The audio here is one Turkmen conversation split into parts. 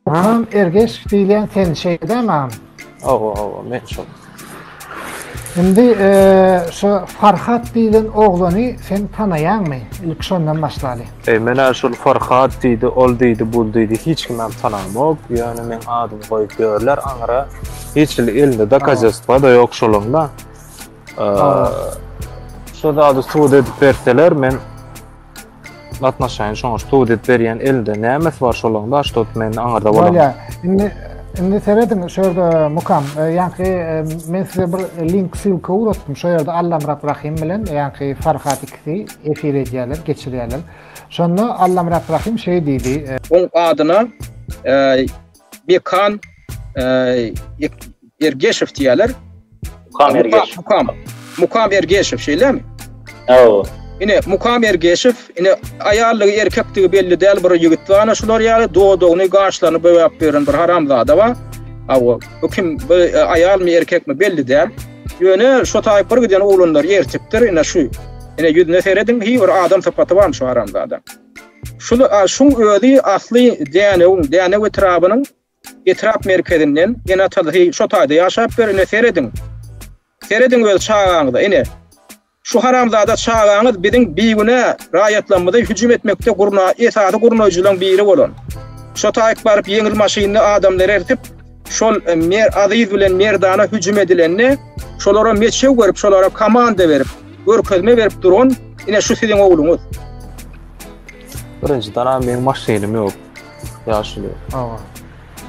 Hanım Ergeş diýilýän sen şeýdämi hanım? Awa, awa, men şol. Şimdi e, şu Farhat diýilen oglany sen tanaýaňmy? Ilk şondan başlaly. E, men ha şol Farhat diýdi, ol diýdi, bul diýdi, hiç kim hem tanamok. Ýöne men adymy goýup ýörler aňra. Hiç hili elinde dokazatstwa da ýok şolaň da. E, şu zady subut edip berseler, men Gatnaşaýyn şoňa ştu dep berýän elinde nämesi bar şolaň da ştu men aňarda bolam. Bolýa. Indi indi serediň şu ýerde mukam e, ýaňky e, men size bir link ssylka ugrotdum şu ýerde Allamyrat Rahim bilen ýaňky Farhat ikisi efir edýärler geçirýärler. Şonda Allamyrat Rahim şeý diýdi. E, Oň adyna e, Bekan Ergeşew diýerler. Mukam Ergeşew. Mukam. Mukam Ergeşew şeýlemi? Hawa. Ine Mukam Ergeşew, ine aýallygy erkekdigi belli däl bir ýigit bar, ana şular ýaly dodagyny, gaşlaryny boýap beren bir haramzada bar. Hawa, bu kim? Bu e, aýalmy, erkekmi belli däl. Ýöne şu taýyp bir giden oglanlar ertipdir, ine şu. Ine ýüzüne serediň, hiç bir adam sypaty barmy şu haramzada? Şul a şuň özi asly Dänewiň, Dänew etrabynyň etrap merkezinden Enatal hi şo taýda ýaşap ber, ine serediň. Serediň öz çagaňyza, ine. Şu haramzada çagaňyz biziň bigünä raýatlarymyzy hüjüm etmekde gurna esasy gurnaýjylaň biri bolan. Şo taýk baryp ýeňil maşynly adamlary ertip, Şol Mer Aziz bilen Merdana hüjüm edilende, şolara meçew berip, şolara komanda berip, görkezme berip duran ine şu siziň ogluňyz. Birinji dana men maşynym ýok. Ýaşuly. Awa.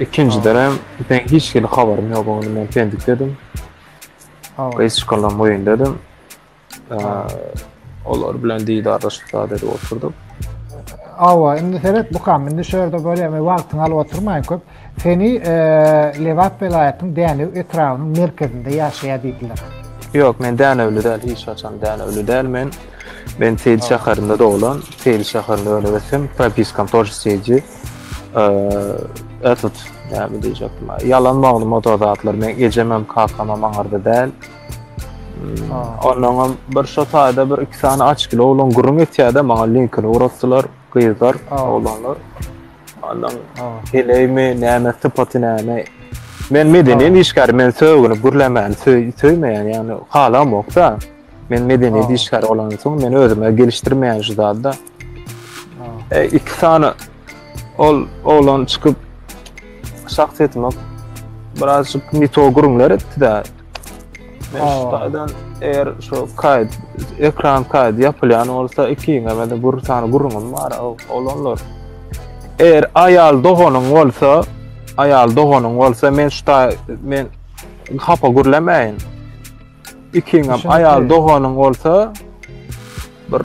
Ikinji dana ben hiç kim habarym ýok, men pendik dedim. Awa. Biz şokolan boýun dedim. Olar bilen didarlaşyp zat edip oturduk. Awa, indi seret bu kam, indi şerde görýän we wagtyňy alyp oturmaýyn köp. Seni e, Lebap welaýatynyň Dänew etrabynyň merkezinde ýaşaýar diýdiler. Ýok, men Dänewli däl, hiç haçan Dänewli däl men. Men Seýil şäherinde doglan, Seýil şäherinde öňe geçsem, propiskam toş Seýilji. E, Etut, näme diýjekdim? Ýalan maglumat o zatlar. Men ejemem, kakamam aňarda däl. Ondan bir şu taýda bir iki sany açkyly oglan gürrüň etýärdi, maňa linkini ugrutdylar, gyzlar, oglanlar. Ondan heleými, näme, sypaty näme. Men medeniýet işgäri, men sögüni gürlemäni söýmeýän, ýagny halam ýokda. Men medeniýet işgäri olandan soň men özüme gelişdirmeýän şu zadda. E, iki sany ol oglan çykyp şahsyýetime birazjyk mito gürrüňler etdi-de, Şudan eger şu kayd ekran kayd yapylýan bolsa iki ýene bir sany gurrun bar olanlar. Eger aýal doganyň bolsa, aýal doganyň bolsa men şuda men hapa gürlemeýin. Ikiňem aýal doganyň bolsa Bir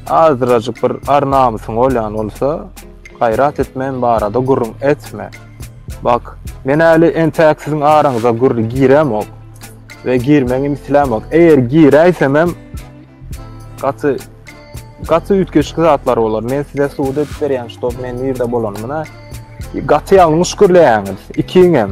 azrajyk bir ar namysyň bolýan bolsa, gaýrat et men barada gürrüň etme. Bak, men äli entäk siziň araňyza gür giremok we girmegim islämok. Eger giräýsemem gaty gaty üýtgeşikli zatlar bolar. Men size subut edip berýän, ştob men nirde bolanymyna gaty ýalňyş gürleýäňiz ikiňem.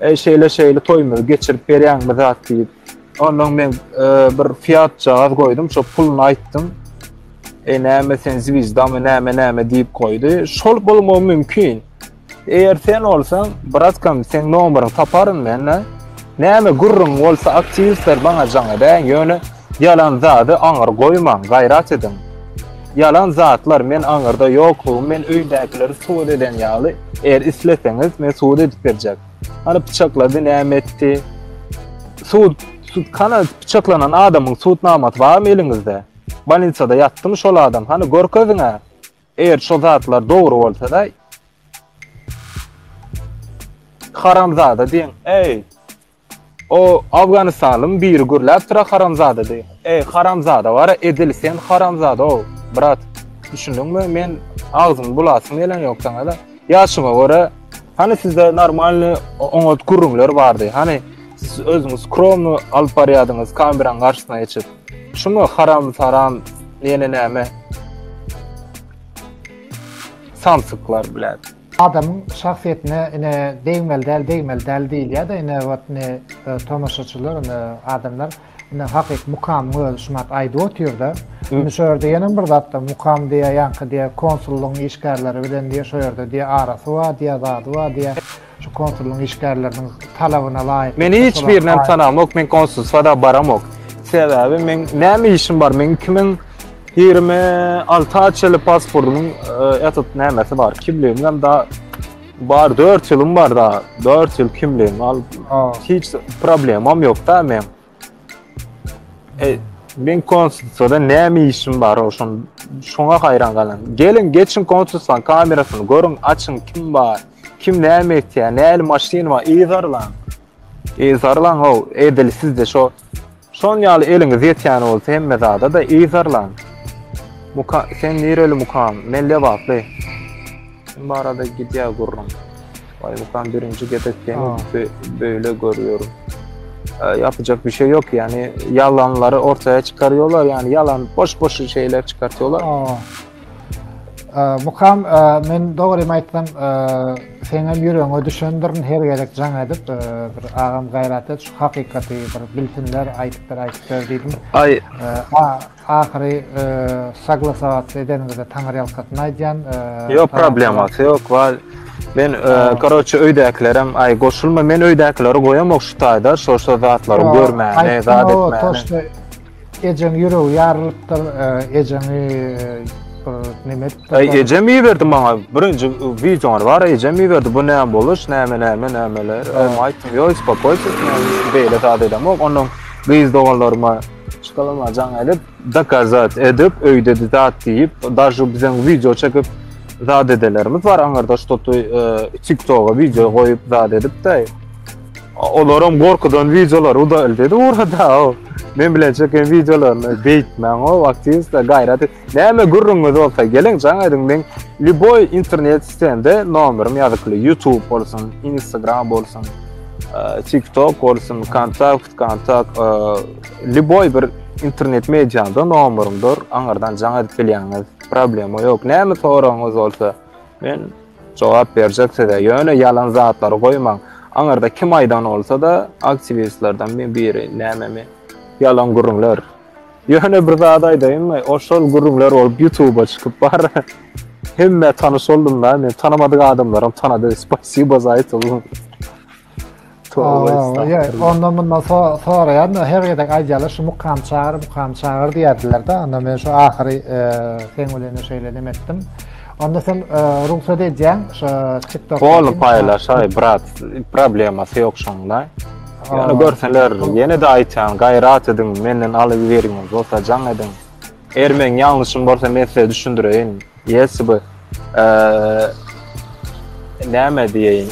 Eý şeýle şeýle toýumyzy geçirip berýäňmi zat diýip. Ondan men bir fiat jagaz goýdum, şo puluny aýtdym. E näme sen zwizdamy näme näme diýip goýdy. Şol bolmagy mümkin. Eger sen olsaň, bratkam, sen nomeryň taparyn mende. Näme gürrüň bolsa aktiwistler bana jaň edäň, ýöne ýalan zady aňyr goýmaň, gaýrat ediň. Ýalan zatlar men aňyrda ýoklugymy men öýdäkileri subut eden ýaly eger isleseňiz men subut edip berjek. Hany pyçaklady näme etdi? Sud sud kana pyçaklanan adamyň sud namasy barmy eliňizde? Balinsada ýatdymy şol adam? Hany görkeziňä. Eger şo zatlar dogry bolsa da haramzada diýen. Eý. O Afganistanlym biri gürläpdira haramzada diýip. Eý haramzada gara edil sen haramzada-ow brat düşündiňmi men agzymy bulasym gelen ýok saňada ýaşyňa görä hany sizde normalny oňat gürrüňler bardy hany siz özüňiz skromny alyp barýadyňyz kameraň garşysyna geçip şumy haram saram ýene näme samsyklar bläd. Adamyň şahsyýetine ine degmeli däl degmeli däl diýilýärde ine wot ine tomaşaçylar ine adamlar ine hakyky mukamyň özi şumat aýdyp otyrda indi şu ýerde ýene bir zat bar mukam diýä ýaňky diýä konsullygyň işgärleri bilen diýä şu ýerde diýä arasy bar diýä zady bar diýä şu konsullygyň işgärleriniň talabyna laýyk men hiç birinem tanamok men konsulstwada baramok sebäbi meň näme işim bar meň kimin Ýigrimi alty açyly pasportymyň etit nämesi bar, kimligim hem da bar, dört ýylym bar da, dört ýyl kimligim al, hiç problemam ýok da men. E, men konsulstwada näme işim bar oşun, şoňa haýran galan. Geliň, geçiň konsulstwaň kamerasyny görüň, açyň kim bar, kim näme etýär, näli maşyn bar, yzarlaň. Yzarlaň how edil sizde şo şon ýaly eliňiz ýetýän bolsa hemme zada-da yzarlaň. Muka sen nireli mukam men lebaply. Kim barada gidýär gürrüň. Vay mukam birinji gezek seni böyle görýärin. Ýapjak bir şey ýok ýani ýalanlary ortaya çykarýolar ýani ýalan boş boş şeyler çykartýolar. Mukam, men dogrymy aýtsam, seňem ýüregiňe düşendirin her gezek jaň edip, bir agam gaýrat et, şu hakykaty bir bilsinler, aýdyp ber, aýdyp ber diýdim. Aý. Ahyry saglasawat edeniňizde taňyrýalkasyn aýdýan. Ýok, problemasy ýok, bar. Men karoçe öýdäkilerem aý goşulma, men öýdäkileri goýamok şu taýda, şo-şo zatlary görmäni, zat etmäni. Ejeň ýüregi ýarylypdyr, e, ejeňi e, bir näme edipdir. Ay ejem iyi berdi bana. Birinci videolar var. Ejem iyi berdi. Bu ne boluş? Näme näme nämeler? Em aytdım. Yo uspokoysiz. Beyle zat edem. Yok ondan kız doganlaryma şokolama can edip dokazat edip öyde zat deyip daşu bizden video çekip zat edelerimiz var. Angarda ştotu e, TikTok'a video koyup zat edip de Olaram gorkudan videolar udalyt edi urada. Men bilen çeken videolaryny beýtmäň o aktiwistler gaýrat. Näme gürrüňiňiz bolsa geliň jaň ediň men liboy internet sitende nomerym ýazykly YouTube bolsun, Instagram bolsun, e, TikTok bolsun, Kontakt, Kontakt, e, liboy bir internet mediada nomerymdyr. Aňardan jaň edip bilýäňiz. Problema ýok. Näme soragyňyz bolsa men Jogap berjek size ýöne ýalan zatlary goýmaň aňyrda kim aýdan bolsada aktiwistlerden mi biri näme mi ýalan gürrüňler ýöne bir zat aýdaýynmy ol şol gürrüňler bolup ýutuba çykyp bar hemmä tanyş boldumda men tanamadyk adamlaram tanady spasibo za etoň. Ondan bundan soraýan da her gezek aýdýarlar şu mukam çagyr, mukam çagyr diýerdiler de. Onda men şu ahyry e, sen bilen şeýle neme etdim. Onda sen e, rugsat edýäň şu TikTok. Hol paýlaşaý brat, problemasy ýok şonda. Ýöne görseler, ýene de aýtýan, gaýrat ediň, menden alyp beriň, bolsa jaň ediň. Eger meň ýalňyşym bolsa men size düşündireýin. Ýesi bu. Näme diýeýin?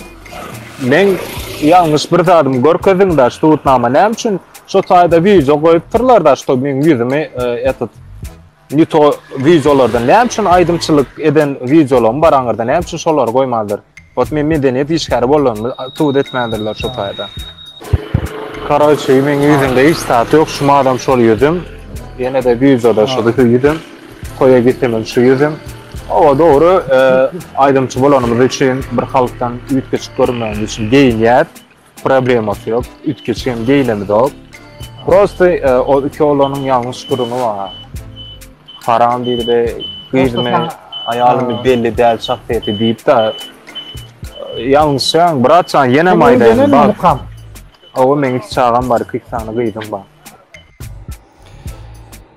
Men ýalňyş bir zadymy görkezdim da, şu tutnama näme üçin şu taýda wideo goýupdyrlar da, şu meň ýüzümi etit. Nito wideolardan näme üçin aýdymçylyk eden wideolaryň bar aňyrda, näme üçin şolary goýmandyr? Ot men medeniýet işgäri bolanymy subut etmändirler şo taýda. Koroçe meň ýüzümde hiç zat ýok şu madam şol ýüzüm ýenede wideoda şo ýüzüm toýa gitsemem şu ýüzüm Oba dogry aýdymçy bolanymyz üçin bir halkdan üýtgeşik görünmegimiz üçin geýinýäs Problemasy ýok. Üýtgeç hem geýlemizok. Prosta e, o iki oglanyň ýalňyş gürrüňi bar. Haram diýdi, gyzymy, aýalymy belli däl şahsyýeti diýip-de ýalňyşýaň, bratjan, ýene maýdaýyn. Bak, oba meň iki çagam bar, iki sany gyzym bar.